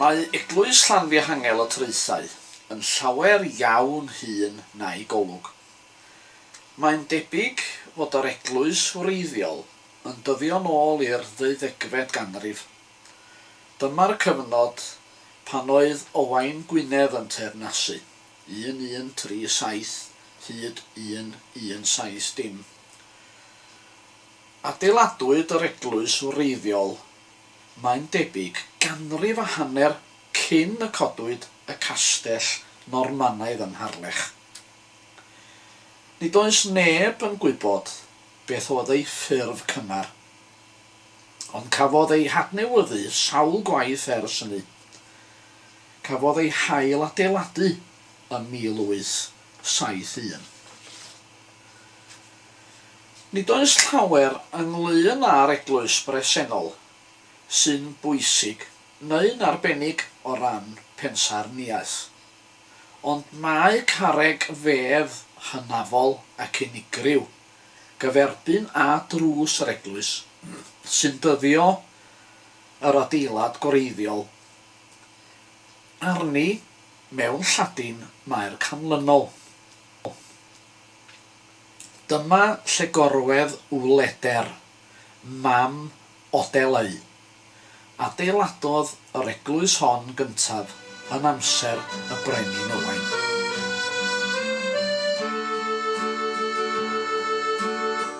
Mae Eglwys Llanfihangel y Traethau yn llawer iawn hŷn na'i golwg. Mae'n debyg fod yr eglwys wreiddiol yn dyddio'n ôl i'r ddeuddegfed ganrif. Dyma'r cyfnod pan oedd Owain Gwynedd yn teyrnasu, 1137 hyd 1170. Adeiladwyd yr eglwys wreiddiol, mae'n debyg, ganrif a hanner cyn y codwyd y castell Normanaidd yn Harlech. Nid oes neb yn gwybod beth oedd ei ffurf cynnar, ond cafodd ei hadnewyddu sawl gwaith ers hynny. Cafodd ei hail-adeiladu ym 1871. Nid oes llawer ynglŷn â'r eglwys bresennol sy'n bwysig neu'n arbennig o ran pensaernïaeth, ond mae carreg fedd hynafol ac unigryw gyferbyn â drws yr eglwys sy'n dyddio yr adeilad gwreiddiol arni mewn Lladin Maer canlynol. Dyma lle gorwedd Wleder, mam Odeleu. Adeiladodd yr eglwys hon gyntaf yn amser y Brenin Owain.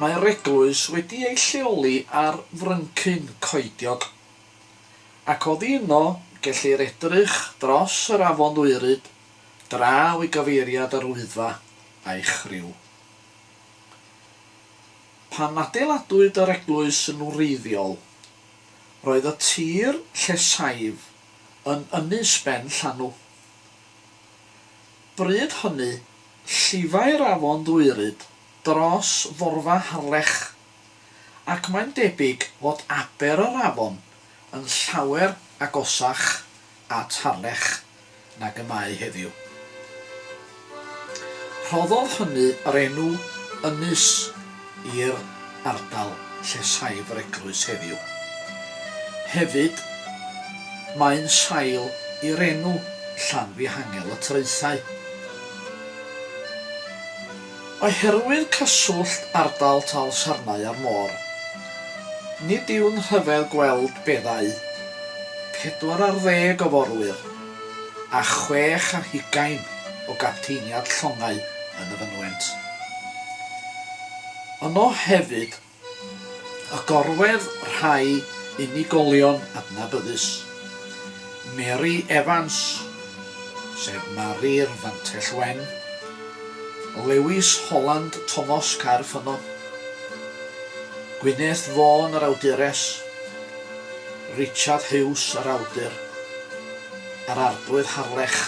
Mae'r eglwys wedi ei lleoli ar fryncyn coediog, ac oddi yno gellir edrych dros yr afon Ddwyryd draw i gyfeiriad yr Wyddfa a'i chriw. Pan adeiladwyd yr eglwys yn wreiddiol, roedd y tir lle saif yn ynys ben llanw. Bryd hynny, llifai'r afon Ddwyryd dros forfa Harlech, ac mae'n debyg fod aber yr afon yn llawer agosach at Harlech nag y mae heddiw. Rhoddodd hynny yr enw Ynys i'r ardal lle saif yr eglwys heddiw. Hefyd, mae'n sail i'r enw Llanfihangel y Traethau. Oherwydd cyswllt ardal Talsarnau â'r môr, nid yw'n rhyfedd gweld beddau pedwar ar ddeg o forwyr a chwech ar hugain o gapteiniad llongau yn y fynwent. Yno hefyd a gorwedd rhai unigolion adnabyddus, Mary Evans, sef Mari'r Fantell Wen, Lewis Holland Tomos Caer Ffynno, Gwyneth Vaughan yr awdures, Richard Hughes yr awdur, a'r Arglwydd Harlech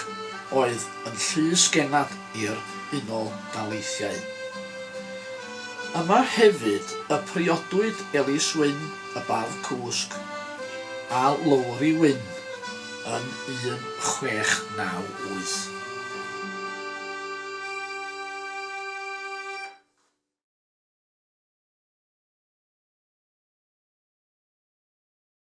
oedd yn Llys Genad. i'r Unol Daleithiau. Yma hefyd y priodwyd Elis Wyn, y bardd cwsg, a Lowri Wyn yn 1698.